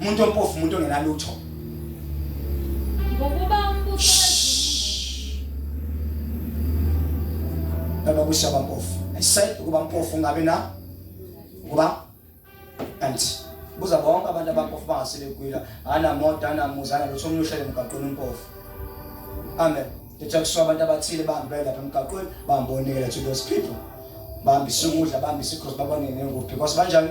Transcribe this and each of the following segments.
umuntu ompofu umuntu ongenalutho ngokuba umbuso baba kusaba mpofu i said ukuba mpofu ungabe na ukuba and buza bonke abantu abampofu bangasile kwila anamoto anamuzi analutho omunye uhlele emgaqweni umpofu amen ngithi kuswa abantu abathile bahambe lapha emgaqweni bambonekela to those people bambisa ukudla bambisa ikhosi babone nengobi because banjani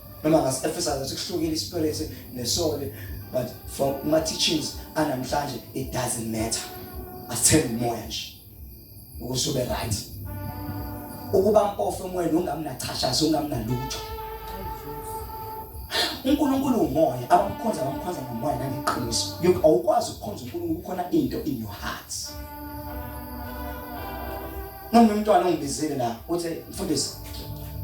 noma ngasi-emphasize sikuhlukile ispirit nesoli but for ama-teachings anamhlanje it doesn't matter asithembe umoya nje ukuze ube right ukuba mpofu emoyeni ungamnachashazi ungamnalutho uNkulunkulu umoya abamkhonza bamkhonza ngomoya nangeqiniso awukwazi ukukhonza uNkulunkulu kukhona into in your heart Noma umntwana ongibizile la uthi mfundisi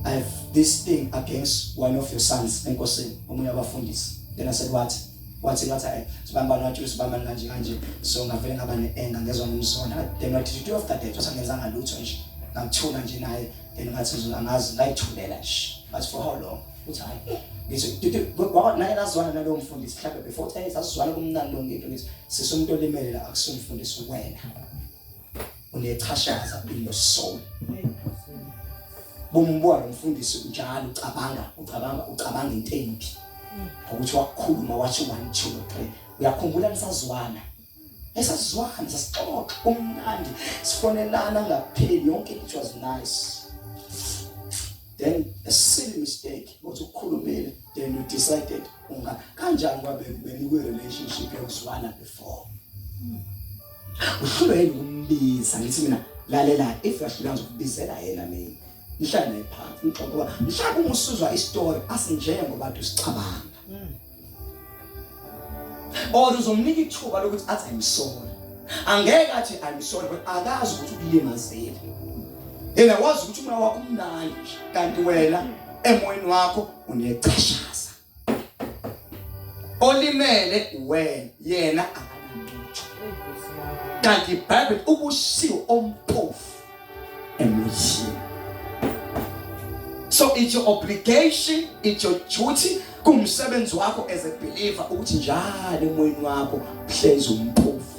I have this thing against one of your sons enkosini omunye wabafundisi. Then I said what? wathi ngathi eh, sibamba nathi sibamba kanje kanje so ngavele ngaba ne-anger ngezwa ngimsona then what did you do after that wasa ngenzanga lutho nje ngangithula nje naye then ngathi angazi ngayithulela nje ngathi for how long uthi hayi ngithi naye nazwana nalowo mfundisi mhlawumbe before uthi hey sasizwana kumnandi lo ngento ngithi sisumntu olimele la akusumfundisi wena unechashaza in your soul bomubona umfundisi njalo ucabanga ucabanga ucabanga into embi ukuthi wakhuluma wathi one two three uyakhumbula nisazwana esasizwana sasixoxa kumnandi sifonelana ngapheli yonke it was nice then a silly mistake ukuthi ukukhulumile then you decided unga kanjani kwabe benikwe relationship yokuzwana before uhlulwe yini ukumbiza ngithi mina lalela if uyahlulwa ngizokubizela yena mina ngihlale naye phansi ngixoxe kuba mhlawumbe uma usuzwa istory asinjengoba ntu sicabanga hmm. or uzomnika ithuba lokuthi athi i'm sorry angeke athi i'm sorry but akazi ukuthi ukulimazile yena wazi ukuthi umoya wakho umnandi kanti wena emoyeni wakho unecashaza olimele wena yena akananquthu kanti ibhayibheli ubusiwe ompofu emuyini so it's your obligation it's your duty kumsebenzi wakho as a believer ukuthi njalo emoyeni wakho hlezi umpofu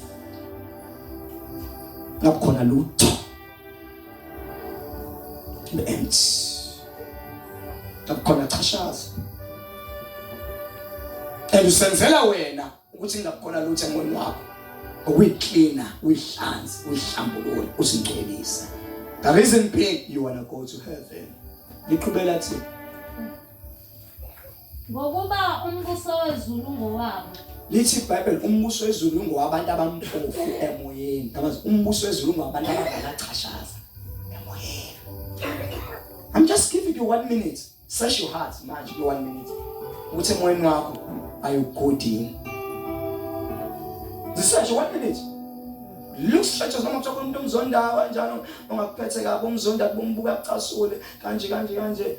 ngakukhona lutho Empty. Akukhona chashaza. And usenzela wena ukuthi ngakukhona lutho emoyeni wakho. Ukuyiklina, uyihlanze, uyihlambulule, usingcwelise. The reason being you wanna go to heaven. Liqhubela thina. Ngokuba umbuso wezulu ngowabo. Lithi iBhayibheli umbuso wezulu ungowabantu abampofu emoyeni. Ngamazi umbuso wezulu ungowabantu abangakachashaza emoyeni. I'm just giving you one minute. Search your heart manje ku one minute. Ukuthi emoyeni wakho ayugudini. Zisearch one minute. Look straight as noma kuthiwa umuntu omzondayo kanjalo ongakuphethe kabi umzonda kubumbuka kucasule kanje kanje kanje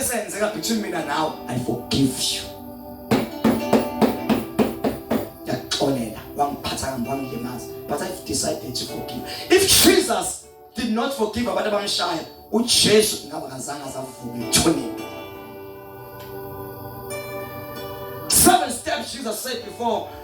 esenzeka between mina nawe i forgive you yaxolela wangiphatha kambi wangilimaza but i've decided to forgive if jesus did not forgive abantu abamshaya ujesu ngaba kazange azavume ithonini seven steps jesus said before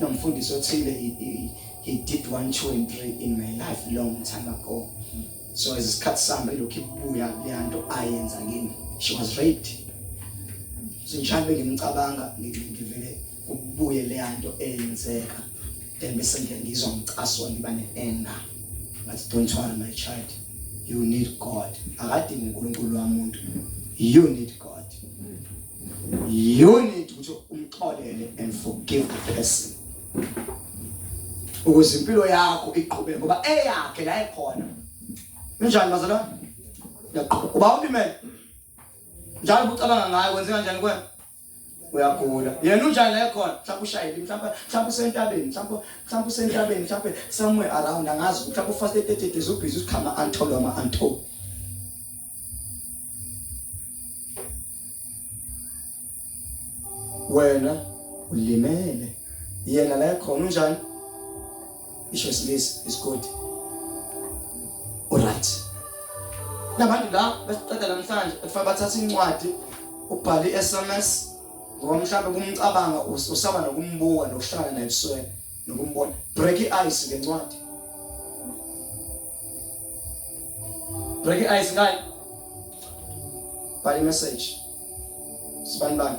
nomfundisi othile he did one two and three in my life long time ago so as isikhathi sihamba ilokhu ibuya leya nto ayenza kimi she was raped so ngihambe ngimcabanga ngivele kubuye leya nto eyenzeka then bese nje ngizwa ngicaswa ngiba ne-anger but don't worry my child you need god akadingi unkulunkulu wamuntu you need god you need ukuthi umxolele and forgive the person ukuze impilo yakho iqhubeke ngoba eyakhe la ekhona injani bazalwane yaqhuba uba ulimele njalo ucabanga ngayo kwenze kanjani kwena uyagula yena unjani la ekhona mhlawumbe ushayile mhlawumbe mhlawumbe usentabeni mhlawumbe mhlawumbe usentabeni mhlawumbe somewhere around angazi mhlawumbe ufaste 30 days ubhizi usikhama antolo ama antolo wena ulimele yena la khona unjani isho isilisa isigodi alright nabantu la besiqeda namhlanje befuna bathatha incwadi ubhale i-sms ngoba mhlawumbe kumcabanga usaba nokumbuka nokuhlangana naye ebusweni nokumbona break i-ice ngencwadi Break your eyes ngayo. Bhala message. Sibani bani.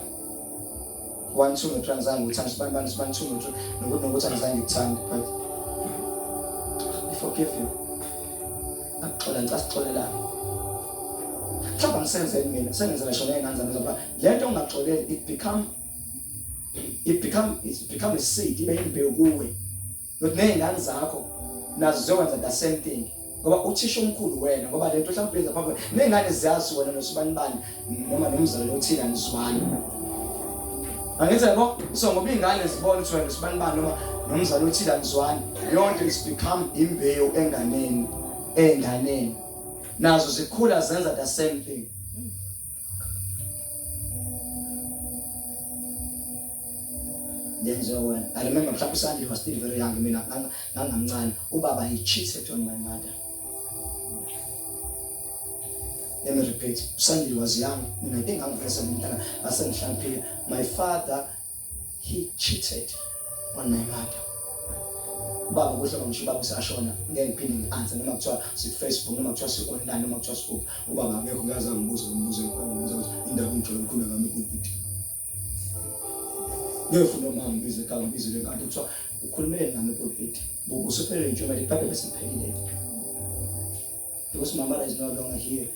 One two no transanga uthanda sibani bani sibani two no nokuthi nokuthi angizange ngikuthande but I forgive you. Akuxola ngicela sixolelane. Mhlawumbe angisenzeli mina sengenzela shona engane zami zokuba le nto ongaxoleli it become it become it become a seed ibe imbewu kuwe not nezingane zakho nazo ziyokwenza the same thing ngoba uthisha omkhulu wena ngoba le nto mhlawumbe yenza phambi nezingane ziyazi wena nosibani bani noma nomzali othile anizwani angithi yabo so ngoba iy'ngane zibona ukuthi wena nosibani bani noma nomzali othile anizwani yonke is become imbewu enganeni ey'nganeni nazo zikhula zenza the same thing yenziwa wena i remember mhlawumbe usandile was still very young mina ngangamncane ubaba he cheated on my mother let me repeat usandile was young mina i think i'm very seventeen ngasengihlaniphile my father he cheated on my mother ubaba kuhle ngisho ubaba usashona ngeke ngiphinde ngi-answer noma kuthiwa sikufacebook noma kuthiwa si-online noma kuthiwa sikuphi ubaba akekho ngiyazi angibuze umbuzo ngibuza ukuthi indaba ngijole ngikhulume ngami kubuti ngiyofuna uma ngibize ka ngibize le kanti kuthiwa ukhulumele nami kubuti busuphelele nje mali ibhayibheli seliphelile because my mother is no longer here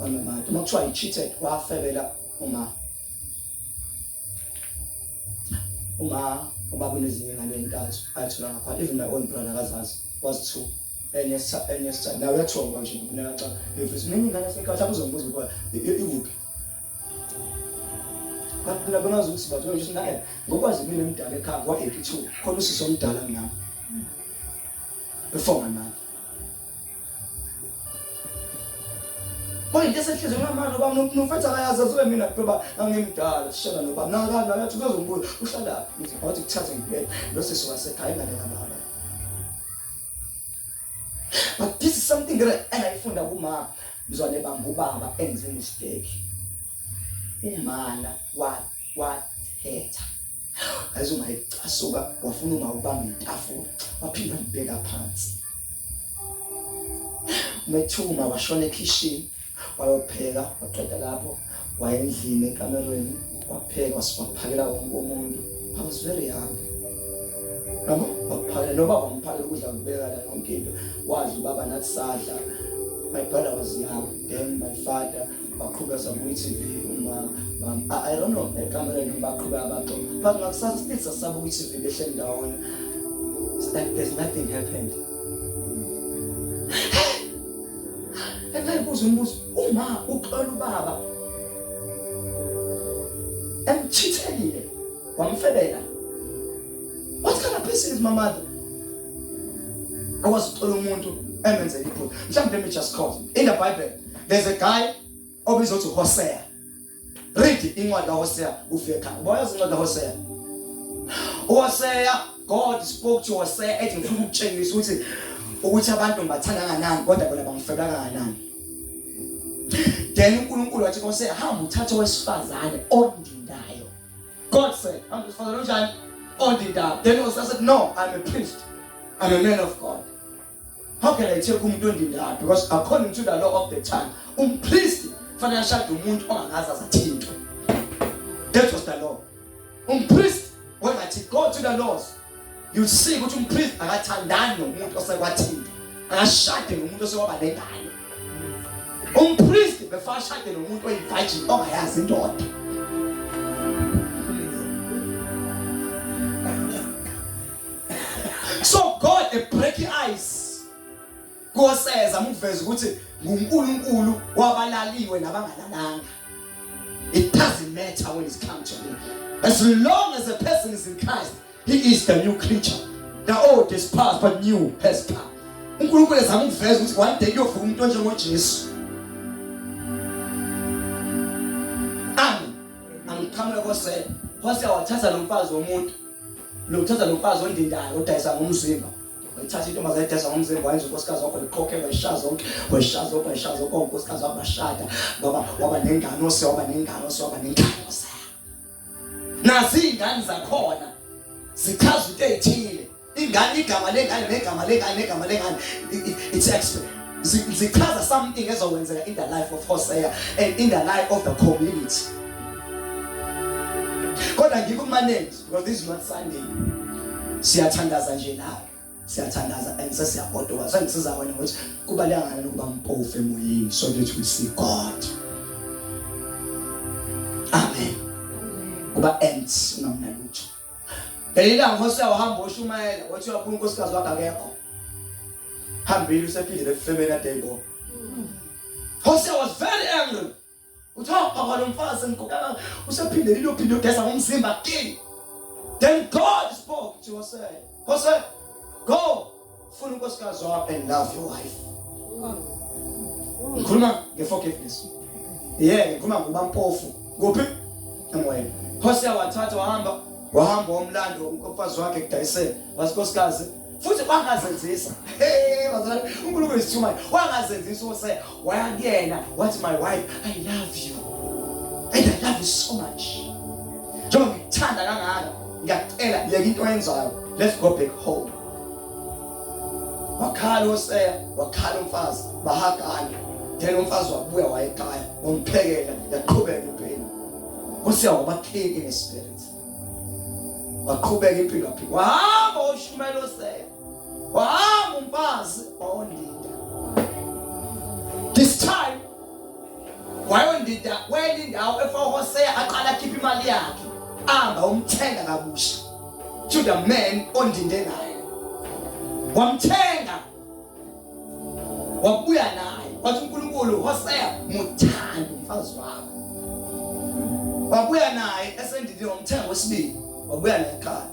Angimathi uma kuthiwa i-cheated wafebela uma uma uba kunezinye ingane entathu ayithola ngapha even my own brother akazazi was two enye enye sithathu nawe uyathonga nje kunaxa befisa mina ingane sekhathi akuzombuza ukuba ikuphi baphila bamazi ukuthi bathola nje naye ngokwazi mina emdala ekhaya kwa 82 khona usisi omdala mina before my mother Manje into esehlezi ngamano ba nofethu akayazi azobe mina kuba angimdala sishela noba naka naka uzozombuza uhlala ngithi wathi kuthathe ngibheke lo sisi wasekhaya ingane kababa But this is something that engayifunda kumama mzwane bamba ubaba enze mistake umana wakhe wathetha ayizo mayicasuka wafuna ungawubamba itafula waphinda mbheka phansi umethuma washona ekhishini wayopheka waqeda lapho wayendlini ekamerweni wapheka wasiphakela wonke umuntu i was very young noma waphakela noba wamphakela ukudla kubeka la yonke into wadla ubaba nathi sadla my brother was young then my father baqhube zabuyi TV uma I don't know ekamereni baqhube abantu but ngakusasa still sasabuyi TV behleli ndawonye it's like there's nothing happened engayibuza umbuzo uma uxola ubaba emchithelile wamfebela what kind of person is my mother akwazi uxola umuntu emenzela iphutha mhlawumbe let me just call in the bible there's a guy obizwa ukuthi Hosea read incwadi kaHosea ufike khaya uboya incwadi kaHosea uHosea God spoke to Hosea ethi ngifuna ukutshengisa ukuthi ukuthi abantu ngibathanda kangakanani kodwa bona bangifeba kangakanani then uNkulunkulu wathi kuHosea hamba uthathe owesifazane ondindayo God said hamba usifazane onjani ondindayo then Hosea said no I'm a priest I'm a man of God How can I take umuntu ondindala because according to the law of the child umpriest fanele ashade umuntu ongakaze azathintwe. That was the law. Umpriest wengathi go to the laws you see ukuthi umpriest akathandani nomuntu osekwathintwa akashade nomuntu osekwaba nengane umpristi befana ashade nomuntu oyivirgin ongayazi indoda so god a break ice koseza muveza ukuthi nguNkulunkulu wabalaliwe nabangalalanga it doesn't matter when it's come to me as long as a person is in Christ he is the new creature the old is past but new has come uNkulunkulu ezama ukuveza ukuthi one day kuyovuka umuntu onjengoJesu ami angikhamule kosela wase wathatha lomfazi womuntu lokuthatha lo mfazi ondindayo odayisa ngomzimba wayithatha intombazane edayisa ngomzimba wayenza unkosikazi wakho likhokhe wayishaya zonke wayishaya zonke wayishaya zonke unkosikazi wakho bashada ngoba waba nengane ose waba nengane ose waba nengane ose nazi iy'ngane zakhona zichaza into ey'thile ingane igama lengane negama lengane negama lengane it's expert zichaza something ezokwenzeka in the life of Hosea and in the life of the community kodwa ngikumanage because this is not Sunday siyathandaza nje nawe siyathandaza and sesiyagodoka sengisiza wena ukuthi kubaleka ngani ukuba mpofu emoyeni so that we see God amen kuba ends ungamnalutho Elilanga Mose wahamba oshumayela wathi wakhuluma unkosikazi wakhe akekho. Hambile usephindile efemeni adayibona. Mose was very angry. Uthiwa baba lo mfazi ngikukaka usephindele ilophinde udesa ngomzimba kini. Then God spoke to Mose. Mose, go Funa unkosikazi wakho and love your wife. Ngikhuluma ngeforgiveness. Yeah, ngikhuluma ngoba mpofu. Kuphi? Emoyeni. Hosea wathatha wahamba wahamba umlando umfazi wakhe kudayisela wasikosikazi futhi wangazenzisa hey bazali uNkulunkulu isithuma wangazenzisa use waya kuyena wathi my wife i love you and i love you so much njengoba ngikuthanda kangaka ngiyacela yeka into oyenzayo let's go back home wakhala oseya wakhala umfazi bahagana then umfazi wabuya wayekhaya wamphekela yaqhubeka impilo usiya wabakhini ngespirit waqhubeka impilo wahamba ushumela oseya wahamba umfazi wawondida this time wayondida kwenye indawo efahoseya aqala akhipha imali yakhe amba umthenga kabusha to the man ondinde naye wamthenga wabuya naye wathi uNkulunkulu Hosea muthanda umfazi wakho wabuya naye esendindini wamthenga wesibili wabuya naye ekhaya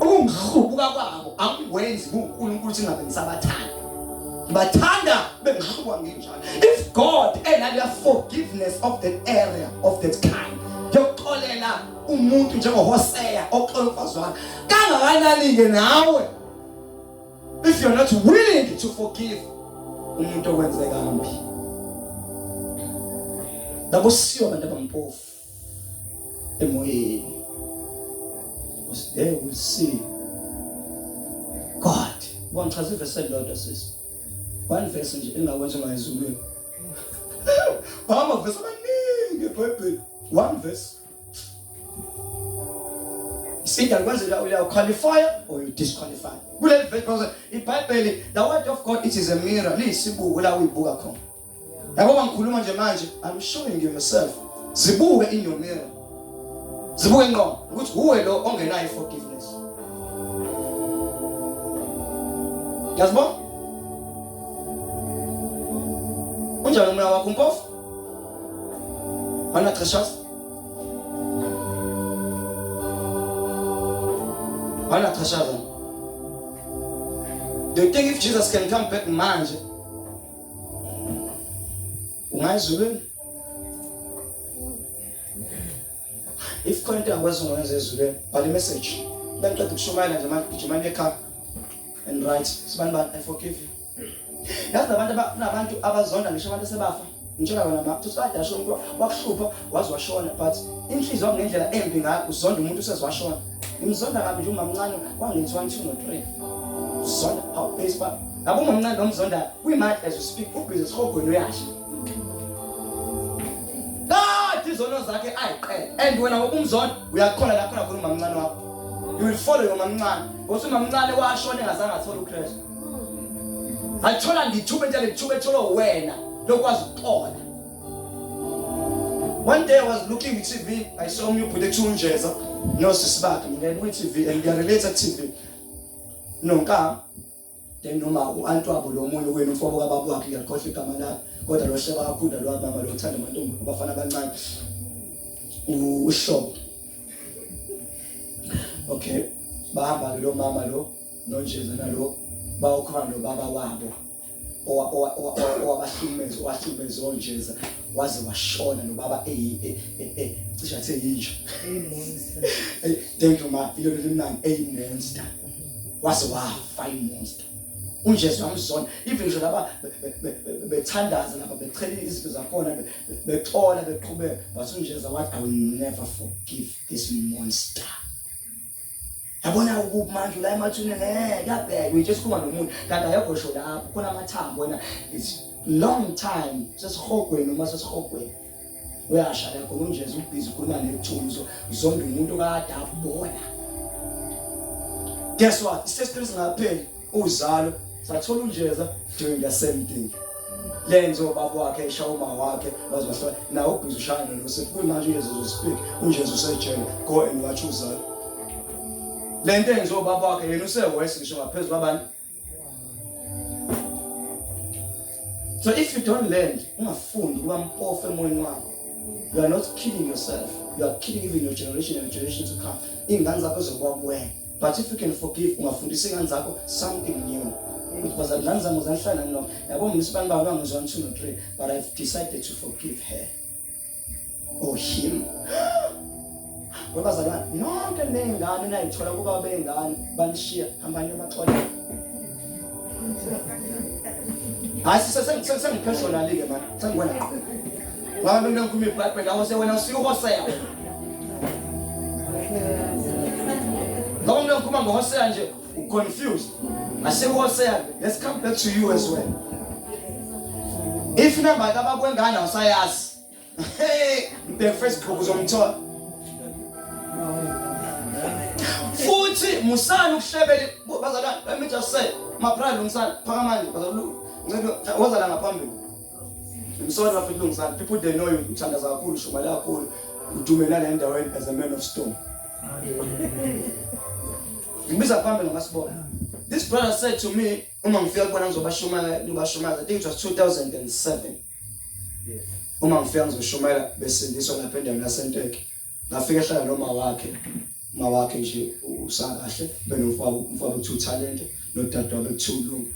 ukungihlubuka kwabo akukwenzi kuNkulunkulu singabe ngisabathanda bathanda bengihlubuka ngenjalo if god enaleya forgiveness of that area of that kind yokuxolela umuntu njengohoseya oxola umfazi wakhe kangakanani-ke nawe if you're not willing to forgive umuntu okwenzeka mbi lakusiyo abantu abampofu emoyeni because they will see God wangichaza ivesi elilodwa sisi one verse nje engakwenza ngayizulwini amavesi amaningi ebhayibheli one verse Either once you are qualified or you disqualify. Kule verse ibhayibheli the word of God it is a mirror liyisibuko la uyibuka khona yabo bangikhuluma nje manje i'm showing you myself zibuke in your mirror zibuke ngqo ukuthi uwe lo ongenayo forgiveness yazbo unjani umna wakho mpofu ana treshas ana treshas do you think if jesus can come back manje Ungazi yini? If khona into angikwazi ukwenza ezulwini, bhala i-message. Baqeda ukushumayela nje manje gijima ekhaya and right. Sibani bani I forgive you. Yazi abantu kunabantu abazonda ngisho abantu sebafa. Ngitshela wena mama, uthi sadasho umuntu wakuhlupha waze washona but inhliziyo ngendlela embi ngakho uzonda umuntu usezwashona ngimzonda kabi nje umamncane kwangenzi one two no three uzonda how base ba ngabo umamncane nomzonda kwi-mad as you speak ubhizi esihogweni uyasha kade izono zakhe ayiqele and wena ngokumzonda uyakhona la khona khona umamncane wakho you will follow your mamncane ngothi umamncane washona engazange athole ukristu athola ngithuba entshela ngithuba etholwe wena lokwazi ukuxola One day I was looking at TV, I saw me put a tune jazz. No, sis back, I'm going to TV and they are related TV. No, ka. Then no ma, antu abo lo munye wenu mfobo kababu wakhe ngiyakhohle igama lakhe. Kodwa lo sheba kakhulu lo mama lo uthanda amantombi abafana abancane. Usho. Okay. Bahamba lo mama lo nonjeza nalo bawukhona lo baba wabo. owabahlukumeza owahlukumeza onjeza waze washona nobaba e, e, e, cishe athe yinja thank you ma ilo limnandi eyimonster waze wafa imonster unjesu wamzona even nje laba bethandaza lapha bechela izinto zakhona bexola beqhubeka but unjeza wathi i will never forgive this monster yabona ukuphi manje ula emathuneni eh kuyabhekwa nje sikhuluma nomuntu kanti ayekho sho lapho khona amathambo wena it's long time sesihogweni uma sesihogweni uyasha la khona unje ubhizi ukhuluma nethunzo zombe umuntu kadafu bona guess what isesitri singapheli uzalo sathola unjeza doing the same thing lenzo baba wakhe esha uma wakhe bazosho na ubhizi ushaya nalo sekumanje uyezo speak unjezo sejele go and watch uzalo lento enzo baba wakhe yena usewesi ngisho ngaphezulu abantu so if you don't learn ungafundi kuba mpofu emoyeni wakho you are not killing yourself you are killing even your generation and generations to come iy'ngane zakho zokuba kuwena but if you can forgive ungafundisa iy'ngane zakho something new ukuthi bazalwane zami zangihlala nilona yabo mna isibani baba bangizwa nithu no-three but i've decided to forgive her Oshim. Babazalwane, nonke nengane nayithola kuba bengane banishiya hambani emaxola. Hayi sesengiphersonally ke manje. Sengibona qho. Ngoba mina ngikhuluma iBhayibheli awu sewena usiyuhoseya. Ngoba mina ngikhuluma ngohoseya nje. u confused ngase wholesale let's come back to you as well if number kabakwengane usayazi hey the first group uzomthola futhi musani ukuhlebele bazalwane let me just say my brother umsana phakamani bazalwane ngicela wazala ngaphambili I'm sorry bafethu lungisani. People they know you uthandaza kakhulu, shumale kakhulu. Udumelana endaweni as a man of stone. Ngibiza phambili ngasibona. This brother said to me, uma ngifika kubona ngizobashumayela, ngibashumayela. I think it was 2007. Yes. Uma ngifika ngizoshumayela besindiswa lapha endaweni yaseNteke. ngafike ehlala noma wakhe uma wakhe nje usakahle benomfabo umfabo two talent nodadewabo two lungu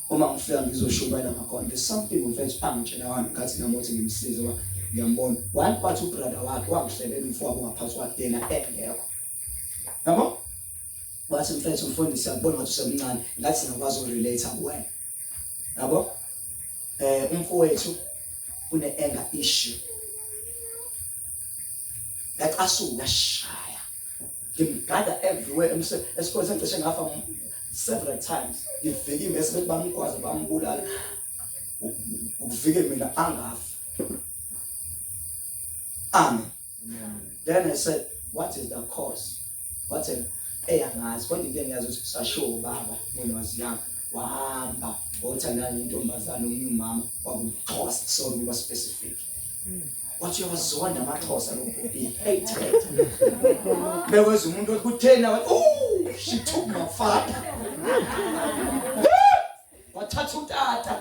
uma ngifika ngizoshubayela ngakhona there's something mfethu angitshela wani ngathi namothi ngimsize wa ngiyambona one part ubrother wakhe wangihlelela umfowabo ngaphansi kwakhe yena engekho yabo wathi mfethu mfundisi akubona ngathi usemncane ngathi ngakwazi ukurelate kuwena yabo eh umfowethu une anger issue ngacasuka shaya ngimgada everywhere esikhona sengicishe ngafa several times ngivike mese bethi bamgwaze bambulala ukuvike mina angafi amen then i said what is the cause wathena eyi angazi kodwa into engiyazi ukuthi sashiwo ubaba nenwazi yami wahamba wothandana nentombazane omunye umama kwakumxhosa sorry kuba specific mm. wathi uyawazonda amaxhosa lo bhobile beweza umuntu kuthena wathi oh she took my father wathatha utata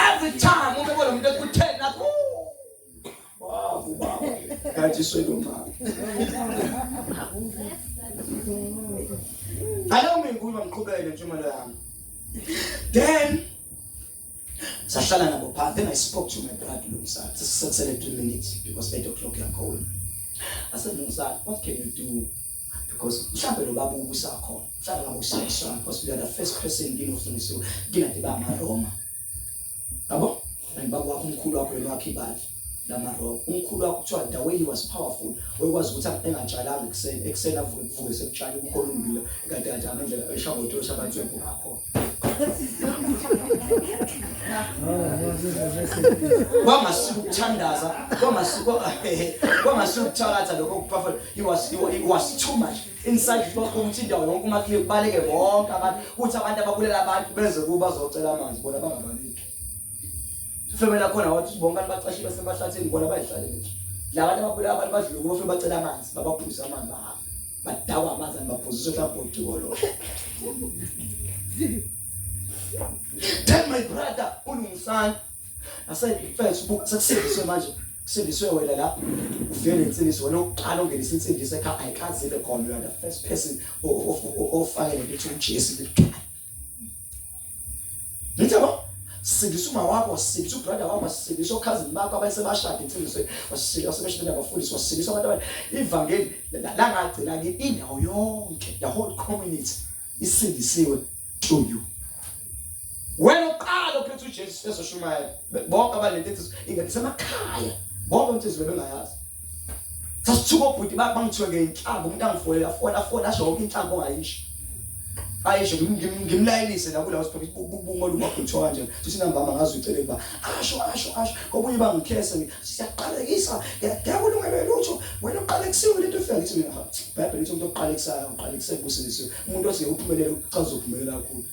every time ube bona umuntu ekutheni aku babu babu kanti swelo mama alo mingulo mqhubele nje imali yami then sahlala nabo phansi then i spoke to my brother lomsana sesisekusele 3 minutes because 8 o'clock yakhona asemuzana what can you do because mhlawumbe lo baba ubusakhona mhlawumbe ngabushayiswana because we are the first person ngini ofundisiwe ngingathi ba maroma yabo and baba wakho umkhulu wakho yena wakhe ibandla lamarogo umkhulu wakho kuthiwa ndaweni was powerful wayekwazi ukuthi engatshalanga ekuseni ekuseni avuke kuvuke sekutshala umkhulu umbila kade kade amendlela eshaboto shabantu yakho ngakho kwangasuka ukuthandaza kwangasuka kwangasuka ukuthakatha lokho kuphafela he was he was too much inside kwakho ukuthi indawo yonke uma kubaleke bonke abantu ukuthi abantu ababulela abantu benze kuba zocela amanzi bona bangabaleki Sifebela khona wathi bonke abantu bacashile sebahlatheni bona bayihlalele nje. Labantu ababulala abantu badlula kufe bacela amanzi babaphuza amanzi bahamba. Badakwa amanzi anibabhuzisa uhlabhodi kolo. Tell my brother ulungisani. Asayifes book sekusindiswe manje. Kusindiswe wena la. Ufike nensindiso wena uqala ungenisa insindiso ekhaya ayikazi ibe khona you are the first person ofake lento ukuthi uJesu likhaya. Nithe ba sindisa uma wakho sindisa ubrother wakho sindisa okhazini bakho abasebashade insizwe wasindisa wasebashade abafundisi wasindisa abantu abanye ivangeli la ngagcina ke indawo yonke the whole community isindisiwe to you wena uqala uphethe uJesu ezoshumayela bonke abalethethisa ingathi semakhaya bonke insizwe bengayazi sasithuka obhuti bangithiwe ngeyinhlamba umuntu angifolela fona fona asho yonke inhlamba ongayisho ayisho ngimlayelise la kulawo siphethe ubungolu wakho kuthiwa kanje sithi nambama ngazi ucele kuba asho asho asho obunye bangikhese siyaqalekisa ngiyakulungela lutho wena uqale kusiwe lento efika ngithi mina bible lithi umuntu oqalekisayo uqalekise kubusisiwe umuntu othi uphumelele ucaza uphumelela kakhulu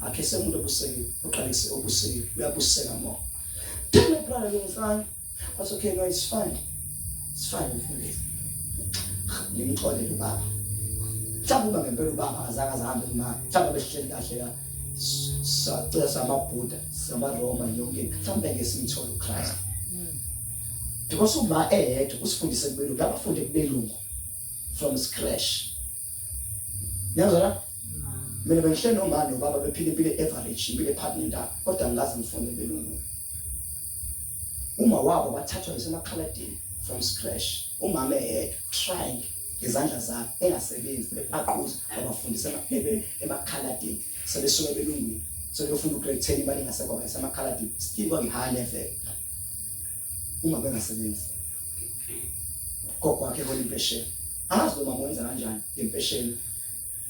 Akhe semuntu obusekile, uqalise obusekile, uyabuseka mo. Tell a brother lomfana, was okay, no it's fine. It's fine mfundisi. Ngimxole ubaba. Mhlawumbe ngempela ubaba akazange ahambe kumama. Mhlawumbe behleli kahle la. Sacela samaBuddha, samaRoma yonke. Mhlawumbe ke simthole uChrist. Hmm. Because uma eyedwa usifundise kubelungu, abafunde kubelungu from scratch. Niyazwa? Mina bengihle nomama nobaba bephile impilo average, impilo ephakile nta, kodwa ngikaze ngifunde belungu. Uma wabo bathathwa ngisemakhaladini from scratch. Umama eyedwa trying ngezandla zakhe engasebenzi bebaquza abafundisa emakhaladini sebesuke belungile sebefuna ugrade 10 imali ingasekho bayisemakhaladini still kwangihigh level uma bengasebenzi gogo wakhe hola impesheni azi noma mwenza kanjani ngempesheni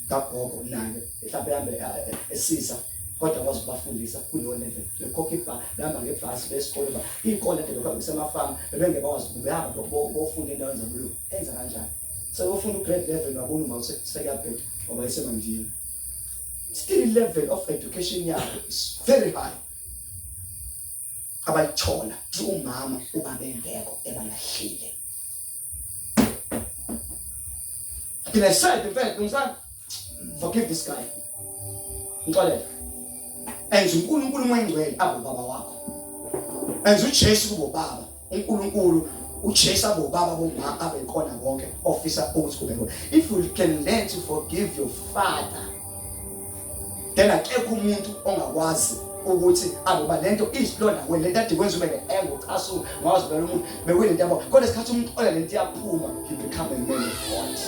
kagogo naye mhlawumbe ehambe eh, esiza kodwa kwazi ukubafundisa kuleyo level bekhokha ibha behamba ngebhasi besikole ba iy'kole nto lokho besemafamu bebengekwazi behamba bofunda endaweni zabulu enza kanjani sebofunda ugrade level wabona uma sekuyabheda ngoba isemandini still level of education yabo is very high abalithola ukuthi umama ubaba engekho ebalahlile Then I said, in fact, ngizani? Forgive this guy. Ngixolele. Enza uNkulunkulu umengcwele abo baba wakho. Enza uJesu kubo baba. uNkulunkulu uchesa bobaba bomama abekhona konke ofisa ukuthi kube khona if you can learn to forgive your father then akekho umuntu ongakwazi ukuthi abuba lento isilona wena lento adikwenza ube engo chasu ngawazi vele umuntu bekwini into yabo kodwa isikhathi umuntu ola lento iyaphuma he become a man of God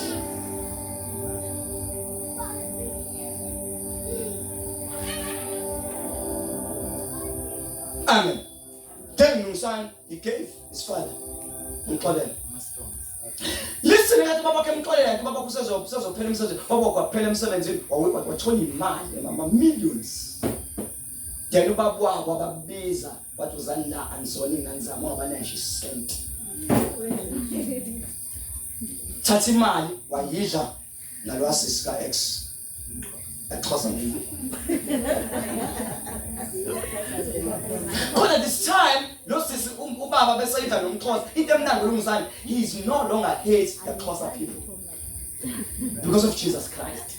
Amen Tell me, son, he gave his father. Mxolele. Listen ngathi baba ke mxolele ke baba kusezo kusezophela umsebenzi. Baba kwaphela umsebenzini wawuba wathola imali mama millions. Then ubaba wabo ababiza wathi uzani la anizona ingane zami ngoba nashi sent. Thatha imali wayidla nalwa sisi ka ex exhosa mina khona this time lo sisi um, ubaba besayida nomxhosa into emnandi kulungizani he is no longer hate the xhosa people because of jesus christ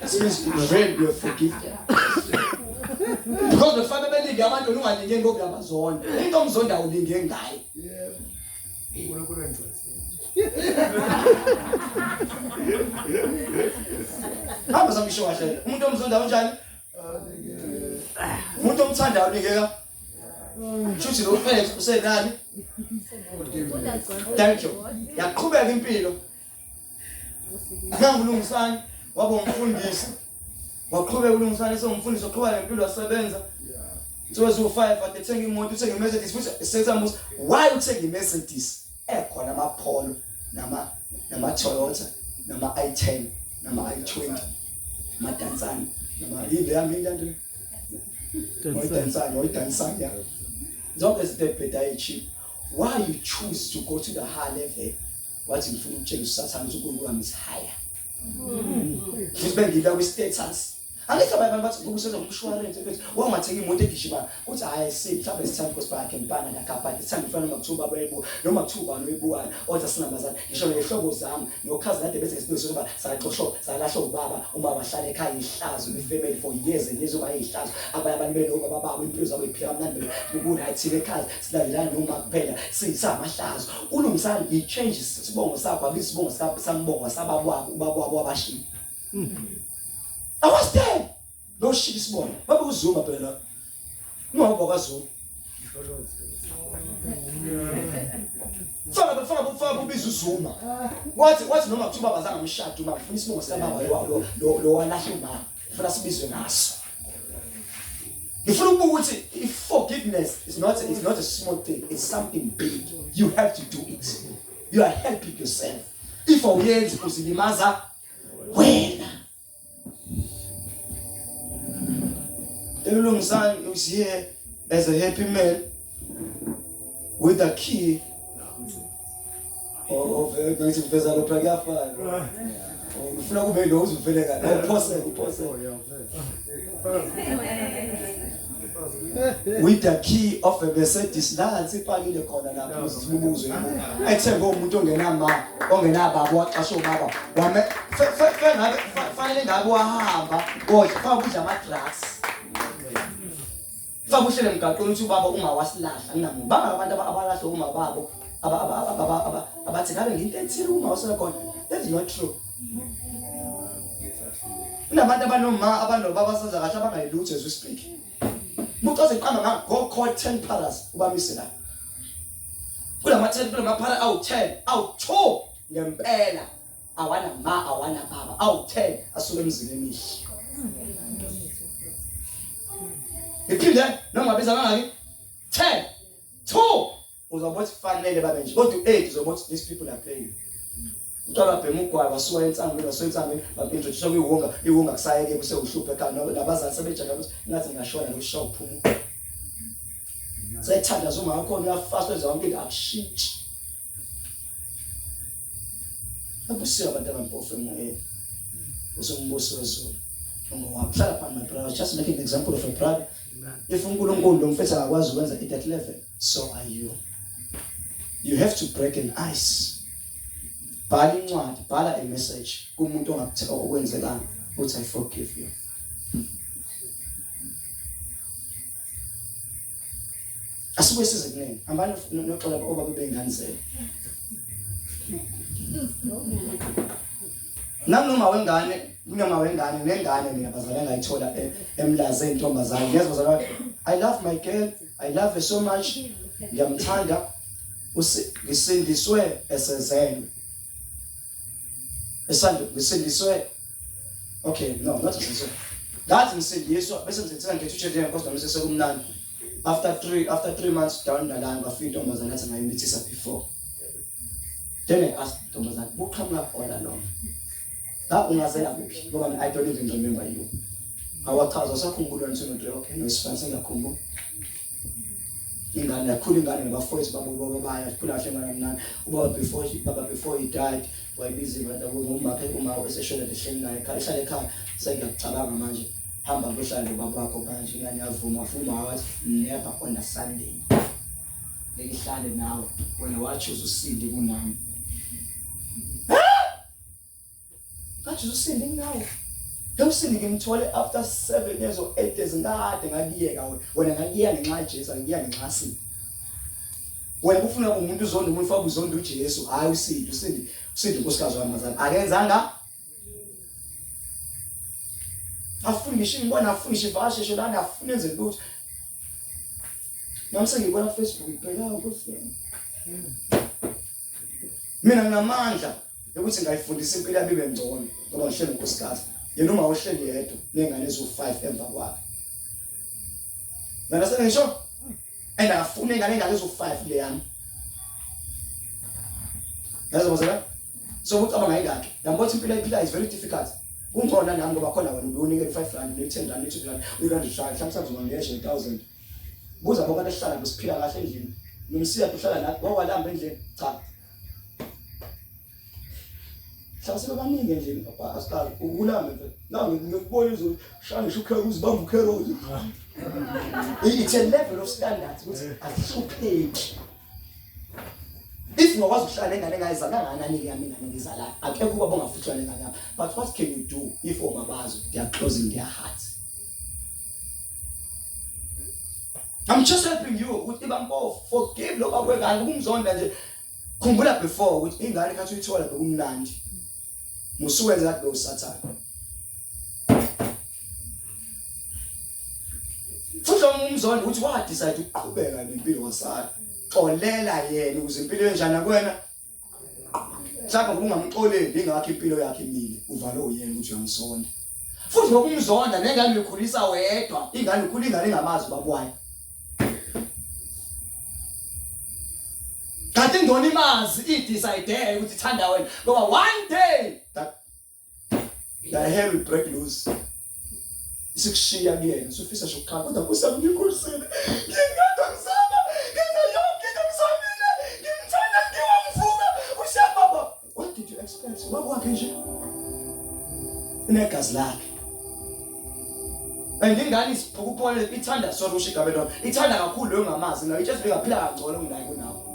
As soon as you repent, you are forgiven. Because the family belinde abantu ungalingeni ngokuyabazonda. Into omzonda ulinge ngayo. Yeah. Unkulunkulu engcwele. Hamba sangisho kahle. Umuntu omzonda unjani? Umuntu omthandayo unikeka. Shuthi lo fethu usenani? Thank you. Yaqhubeka impilo. Ngangulungisani waba umfundisi. Waqhubeka ulungisani esengumfundisi oqhubeka nempilo asebenza. Nsuku zu 5 athethenga imoto uthenge iMercedes futhi esenza musa why uthenge iMercedes ekhona amapholo nama nama Toyota nama i10 nama i20 madansani nama yile yami into Oyidansani, oyidansani yabo. Zonke izinto ebhedayo cheap. Why you choose to go to the high level? wathi ngifuna ukutshela usathane ukuthi uNkulunkulu wami is higher ngibe ngila kwi status angithi abanye abantu bathi ngoba usenza umshwalense mfethu wangathenga imoto egijima uthi hayi si mhlawumbe sithanda ukuthi bakhe ngibana nakabhadi sithanda ifana noma kuthiwa baba ebu noma kuthiwa ubani uyibukayo oza sinambazana ngisho nehlobo zami nokhazi kade bese ngisibizwe ukuba saxoshwa salahla ubaba uma bahlala ekhaya ihlazo ifamily for years and years uma ihlazo abanye abantu benobaba babo impilo zabo iphila mnandi kuku right ekhaya silandelana noma kuphela sisamahlazo kulungisani he changes isibongo sakho abiza isibongo sakho sambongo sabakwabo ubakwabo abashiya i was there no shit isibongo babe uzuma phela ngoba kwazuma Fana bafana bafana kubiza uzuma. Wathi wathi noma kuthiwa bazanga umshado uma ngifuna isibongo sikababa lo lo lo walahle umama. ngifuna sibizwe ngaso ngifuna ukubuka ukuthi if forgiveness is not a, is not a small thing it's something big you have to do it you are helping yourself if awuyenzi uzilimaza wena elulungisani is here as a happy man with the key of bethi ngiveza lo phela kuyafana ngifuna kube lo uzuvele kahle awuphose uphose with the key of a Mercedes nansi ipakile khona lapho uzibubuze ethembe umuntu ongenama ongenababa waxasha ubaba wame fanele ngabe wahamba kodwa faka ukudla ama drugs Faka uhlele emgaqweni ukuthi ubaba ungawasilahla nginamuntu. Bangaka abantu abalahle uma babo abathi ngabe nginte ethile uma wasekhona. That is not true. Kunabantu abanoma abanobaba asenza kahle abangayilutho as we speak. Umuntu oziqamba nga go call 10 palace ubamise la. Kulama 10 kulama phala awu 10 awu 2 ngempela. awana ma awana baba awu-10 asuke emzini emihle ngiphinde noma biza kangaki 10 2 uzobona ukuthi fanele babe nje kodwa u-8 uzobona ukuthi these people are playing mntwana bhema ugwayi wasuka ensangweni wasuka ensangweni bapintrodusa kwiwunga iwunga kusayeke kusewuhluphe khani nabazali sebejaka ukuthi ngathi ngashona nokusha uphuma sethanda zuma wakhona uyafasta zonke into akushintshi Babusiwe abantu abampofu emoyeni. Kuze umbuso wezulu. Ungowakho. Hlala phambi my brother. Just make an example of a brother. If uNkulunkulu lo mfethu akakwazi ukwenza it at level, so are you. You have to break an ice. Bhala incwadi, bhala a message kumuntu ongakutheka okwenzekanga, uthi I forgive you. Asuke size kunene. Hambani noxola obaba bengane zenu. Nanoma wengane kunoma wengane nengane mina bazali engayithola e, emlaze intombazane. Ngiyazwa bazali I love my girl. I love her so much. Ngiyamthanda. Usindiswe esezelwe. esandle ngisindiswe okay no not ngisindiswe ngathi ngisindiswa bese ngizethela ngithi utshe nje kodwa mase sekumnandi after 3 after 3 months down the line bafika intombazana athi ngayimithisa before then i asked intombazana buqhamuka khona noma la ungazela kuphi ngoba i don't even remember you awachaza sakhumbula ngisho nje okay no sifanele ngakhumbula ingane yakhula ingane nabafowethu baba ubaba bayo sikhula kahle ngane mnani ubaba before baba before he died wayibiza imata ngomakhe uma eseshona ehleli naye ekhaya ehlala ekhaya sengiyacabanga manje hamba kuhlala nobaba wakho manje ingane yavuma wafuma wathi never on a sunday ngihlale nawe wena wathi uzosinda kunami Ngathi usindi ngawo. Ngewusindi ngimthole after 7 years or 8 years ngade ngakiyeka wena. Wena ngakiya ngenxa kaJesu, ngiya ngenxa sindi. Wena ufuna umuntu uzonda umuntu ufaka uzonda uJesu, hayi usindi, usindi, usindi unkosikazi wami mazana. Akenzanga afuni ngisho ngibona afuni ngisho ivakashe sho lana afuni enze lutho nami sengibona ku-facebook ngibheka ukuthi mina nginamandla yokuthi ngayifundisa impilo yami ibe ngcono ngoba ngihleli nkosikazi yena uma uhleli yedwa nengane eziwu-five emva kwakhe nana sengisho and afune ingane engane eziwu-five le yami yazobozela so ukuthi aba ngayingakhe yambona ukuthi impilo ayiphila is very difficult kungcono nami ngoba khona wena ubunikele i-five rand ne-ten rand ne-two rand uyi-rand hlanu hlanu hlanu zona ngesho i-thousand Buza ngoba nehlala besiphila kahle endlini. Nomsiya uhlala nathi ngoba walamba endlini. Cha. Hlala sebaningi endlini papa asiqali ukulamba mfethu. Nawe ngikubona izo shanga shukhe uzibamba ukhero. It's a level of standards ukuthi asihlupheki. If ngokwazi ukuhlala engane engayizala kangakanani ke yami ingane ngizala akekho ubaba ongafuthwa lengane yami but what can you do if omabazo they are closing their hearts I'm just helping you ukuthi bampofu forgive lo baba wengane kumzonda nje khumbula before ukuthi ingane khathi uyithola bekumnandi musuwenza kade usathane futhi umzonda ukuthi wa decide ukuqhubeka nempilo wasala xolela yena ukuze impilo enjani kuwena mhlawumbe ngokungamxoleli ingakho impilo yakhe imile uvale uyena ukuthi uyamsonda futhi ngokumzonda nengane uyikhulisa wedwa ingane ukhula ingane ingamazi babwayo kanti ingona imazi idecide ukuthi ithanda wena ngoba one day that la hair will break loose isikushiya kuyena usufisa nje ukuqala kodwa kusa ngikhulisile ngingathi ngisaba ngenza yonke into ngizamile ngimthanda ngiwamvuka ushababa what did you expect ubaba wakhe nje unegazi lakhe and ingane isiphukupole ithanda sorry usho igama lona ithanda kakhulu leyo ngamazi nayo itshela ukuthi ingaphila kangcono kunayo kunawo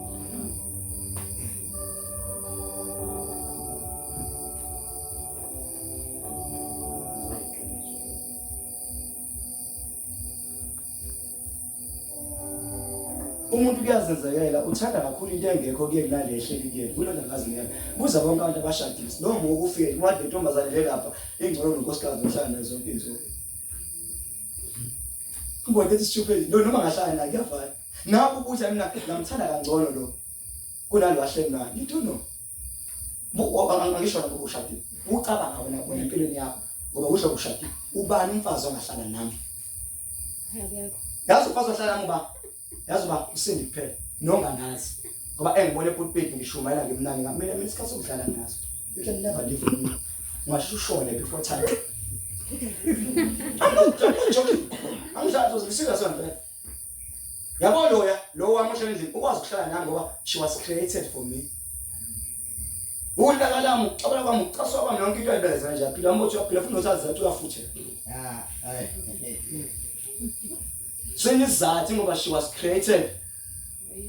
umuntu kuyazenzekela uthanda kakhulu into engekho kuyeni nale ehleli kuyeni kulona ngazingeke buza bonke abantu abashadile noma ukufike wade ntombazane le lapha ingcono nonkosikazi ohlala nazo zonke izinto kubona ukuthi stupid no noma ngahlala naye kuyafana Nakho ukudla mina ngamthanda kangcono lo. Kunalo ahleli naye. You don't know. Buko angisho lapho ushadile. Ucabanga wena wena empilweni yakho ngoba usho ushadile. Ubani umfazi ongahlala nami? Akekho. Yazi umfazi ohlala nami uba. Yazi uba usindi kuphela. Nongangazi. Ngoba engibone pulpit ngishumayela ngimnani ngamina mina isikhathi sokudlala ngaso. You can never live with me. Ungasho ushone before time. I'm not joking. I'm not joking. I'm serious on that. yabo loya lo wamoshela endlini ukwazi ukuhlala nami ngoba she was created for me ulaka lami ucabula kwami ucaswa kwami yonke into ayibeleza nje aphila mbothi uyaphila futhi nosazi ukuthi uyafuthela ah hayi sinizathu ngoba she was created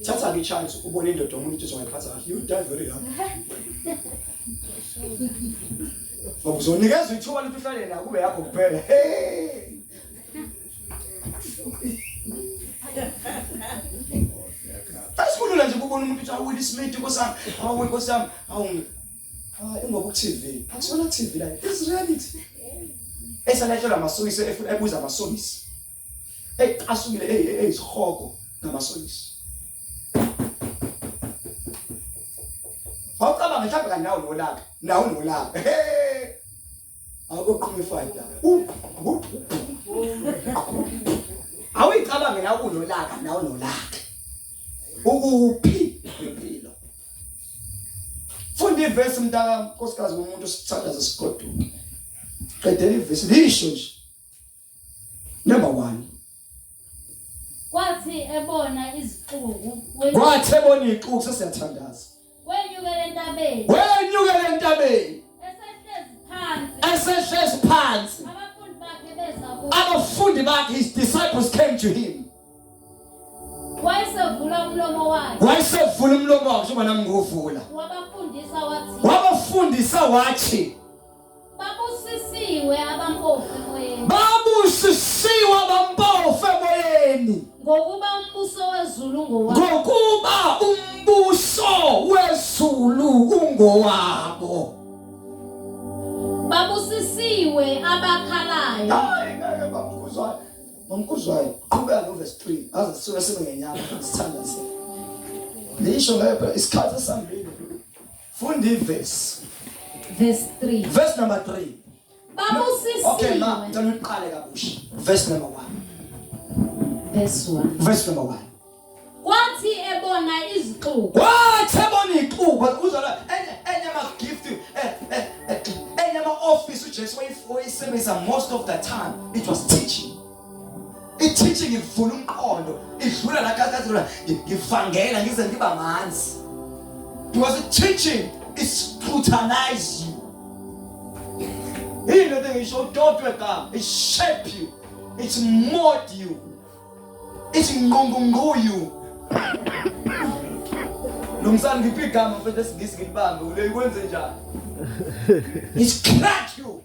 thatha ke chance ubone indoda omuntu ithi ungayiphatha kahle you die very young ngoba uzonikeza ithuba lokuthi uhlale nayo kube yakho kuphela hey Asikulula nje kubona umuntu uthi awuwile isimidi Nkosi yami, awuwe Nkosi yami, awu ah, ingoba ku-TV. Akusona TV la. It's reality. Esalethelwa amasokisi efuna ebuza amasokisi. Ey asukile ey ey isihogo ngamasokisi. Wawucabanga mhlawumbe kanawo nolaka, nawo nolaka. Hey! Awukoqhuma ifight. Awuyicabange la unolaka na unolaka. Ukuphi impilo? Funda ivesi mntaka nkosikazi womuntu sithandaza sigoduka. Qedela ivesi lisho nje. number 1 kwathi ebona izixuku kwathi ebona izixuku sesiyathandaza wenyukele entabeni wenyukele entabeni esehlezi phansi esehlezi phansi abafundi bakhe beza kuye abafundi bakhe his disciples came to him wayesevula umlomo wakhe wayesevula umlomo wakhe njengoba nami ngiwuvula wabafundisa wathi wabafundisa wathi Babusisiwe abampofu emoyeni. Babusisiwe abampofu emoyeni. Ngokuba umbuso wezulu ngowabo. Ngokuba umbuso wezulu ungowabo. Babusisiwe abakhalayo. Hayi ngeke bamkhuzwayo. Bamkhuzwayo qhubeka no verse 3 aze sisuke sibe ngenyanga sithanda sini. Nisho ngeke isikhathi esambile. Funda ivesi. Verse 3. Verse number 3. Babusisiwe. Okay ma, ngicela uqale kabusha. Verse number 1. Verse 1. Verse number 1. Kwathi ebona izixuku. Kwathi ebona izixuku uzala enye enye ma gift eh eh, eh enye ma office uJesu wayisebenzisa most of the time it was teaching. i-teaching ivula umqondo idlula la kakhazula ngivangela ngize ngiba manzi because i-teaching is scrutinize you yini lento ngisho udodwe ka it shape you it mold you it nqungungqu you lo msana ngiphi igama mfethu esingisi ngilibambe uleyikwenze njani it crack you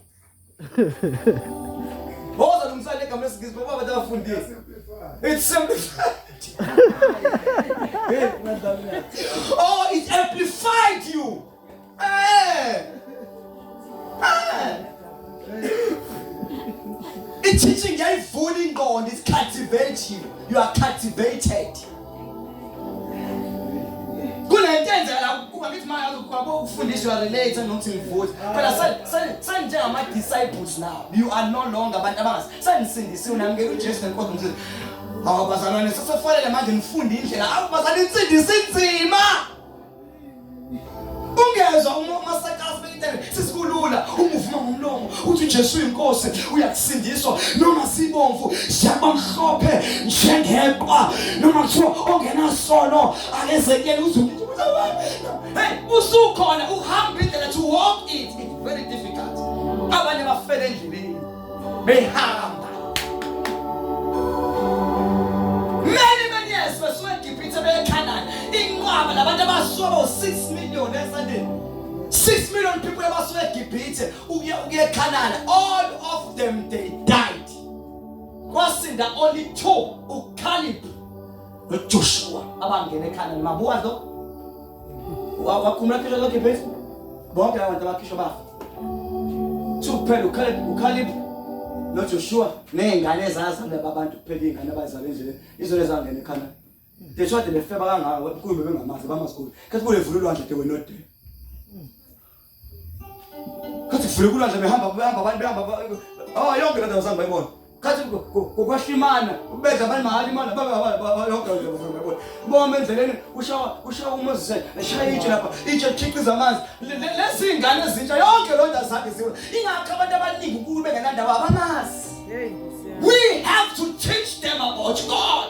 Boza nomsana egama lesingisi ngoba abantu abafundile. It's simplified. oh, it amplified you. Eh. Eh. I-teaching yayivula ingqondo is cultivating you are cultivated ufundiswa relate nokuthi ngivuthi phela senjengamadisciples now you are no longer abantu abangazi senisindisiwe namukela ujesu nenkosi msile awu bazalwane sesefanele manje nifunde indlela awu bazalwane insindisa inzima ungezwa uma umasakazi beyitele sisikulula umuvuma ngomlomo uthi uJesu uyinkosi uyakusindiswa noma sibomvu shaba mhlophe njengeqwa noma kuthiwa ongenasono akezekele uzume hey usukhona uhamba indlela to walk it it's very difficult abanye bafele endleleni behamba many many years besuka eGibhithe beye Canaan inqwaba labantu abasuka bo 6 million esandeni 6 million people abasuka eGibhithe ukuya ukuya eCanaan all of them they died kwasinda only two uCaleb noJoshua abangena eCanaan mabuwa lo wakhumula khisho lakhe phezu bonke laba bantu abakhishwa bafa sukuphela ukhalib ukhalib nojoshua ney'ngane ezazalwa laba bantu kuphela iy'ngane abazalwa endleleni izona ezangena ekhanda de shade befeba kangaka kuyo bebengamazi bamazikhulu khathi kule vula ulwandle de wenode Khathi kuvuleka ulwandle behamba behamba abantu behamba oh yonke lento zange bayibona. Khathi kukwahlimana ubedla abantu mahali imali baba yonke lento zange bayibona. Boma endleleni ushawa ushawa uMoses eshaya itshe lapha itshe likhiqiza amanzi. Lezi ingane ezintsha yonke loo nto azange ziwe. Ingakho abantu abaningi uNkulunkulu bengenandaba abamazi. We have to teach them about God.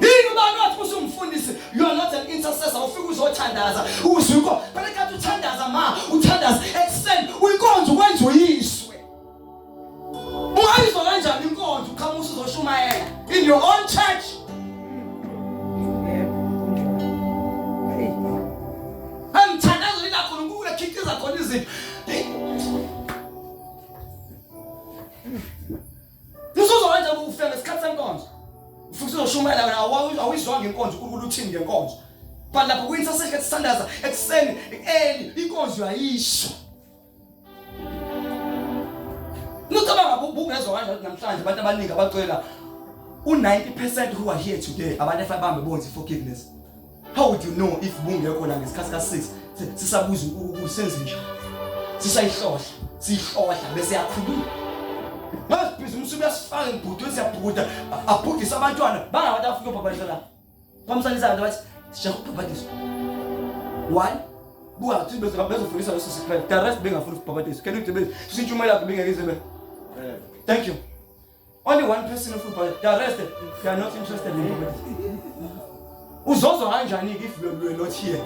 yini ubani wathi usumfundisi you are not an intercessor ufike uzothandaza uzwe inkonzo phela kathi uthandaza ma uthandaza extend uyinkonzo ukwenza uyiswe ungayizwa kanjani inkonzo uqhamuka uzoshumayela in your own church emthandazo ila khona unkulunkulu ekhiqiza khona izinto Usuzokwenza ukufika ngesikhathi senkonzo. Ufike uzoshumayela wena awuyizwanga inkonzo uNkulunkulu uthini ngenkonzo. But lapho kuyinto sesike sisandaza ekuseni eli inkonzo yayisho. Nucabanga ubungezwa kanjani namhlanje abantu abaningi abacela u90% who are here today abantu efabambe bonzi forgiveness. how would you know if bungekho la ngesikhathi ka 6 sisabuza usenze njani sisayihlohla siyihlohla bese yakhuluma ngasibhizi umsuku uyasifaka ngibhuti siyabhuda abhudise abantwana bangabantu afike ubhabhadisa la kwamsanisa abantu bathi sijaha ukubhabhadisa one buka ukuthi bezofundisa leso sikhathi the rest bengafuni ukubhabhadisa kena ukuthi sintshumayelakho bengeke izibe thank you Only one person of football. The rest, they are not interested in comedy. Uzozwa kanjani if you were not here?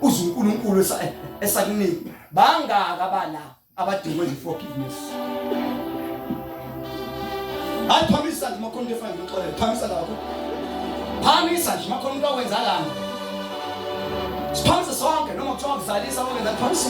Uze uNkulunkulu esakunika. Bangaka abala abadinga iforgiveness. Aphambisa nje makhona into efana noxolele. Phambisa lapho. Phambisa nje makhona into awenza lana. Siphambisa sonke noma kuthiwa kuzalisa okwenza phambisa.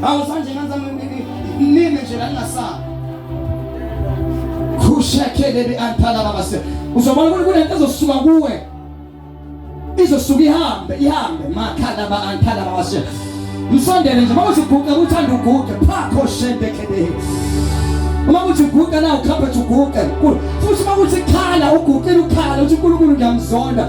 Hawu sanje nganza nime nje la ngingasaba. Kushekele bi anthala baba se. Uzobona ukuthi kunento ezosuka kuwe. Izosuka ihambe ihambe makhala ba anthala baba se. Msondele nje mawuthi uguqa uthanda uguqa phakho shende kede. Uma kuthi uguqa na ukhapha uguqa. Futhi uma kuthi khala uguqile ukhala uthi uNkulunkulu ngiyamzonda.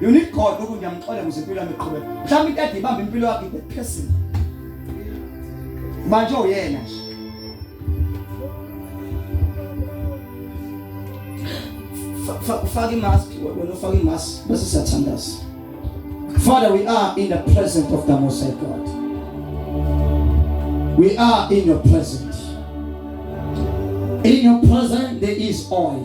You need God lokhu ngiyamxola ukuze impilo yami iqhubeke. Mhlawumbe into ade ibamba impilo yakhe ibe phezulu. Manje uyena nje. Ufaka imask, wena ufaka imask bese siyathandaza. Father, we are in the presence of the Most High God. We are in your presence. In your presence, there is oil.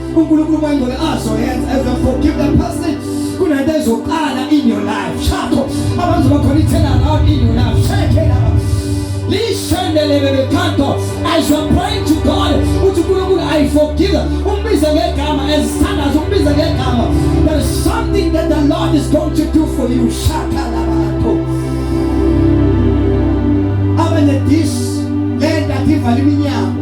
uNkulunkulu wayengeke azoyenza as a forgive that person kunento ezoqala in your life shakho abantu bakhona ithela around in your life shake it up lishendelebebekhanto as you are praying to God uthi uNkulunkulu I forgive umbize ngegama ezithandaza umbize ngegama there is something that the Lord is going to do for you shaka labantu abane this lenda ivala iminyango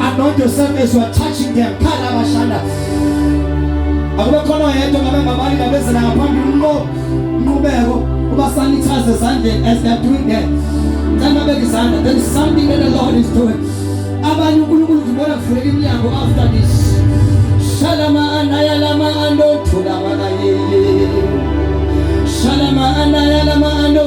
Anoint yourself as you are touching them. Khala abashanda. Akube khona yedwa ngabe ngabali ngabezela ngaphambili unqo nqubeko uba sanitize ezandleni as they are doing that. Ngicela babeke izandla. There is something that the Lord is doing. Abanye uNkulunkulu ngibona kuvuleka iminyango after this. Shalama anayalama ando thulama kaye. Shalama anayalama ando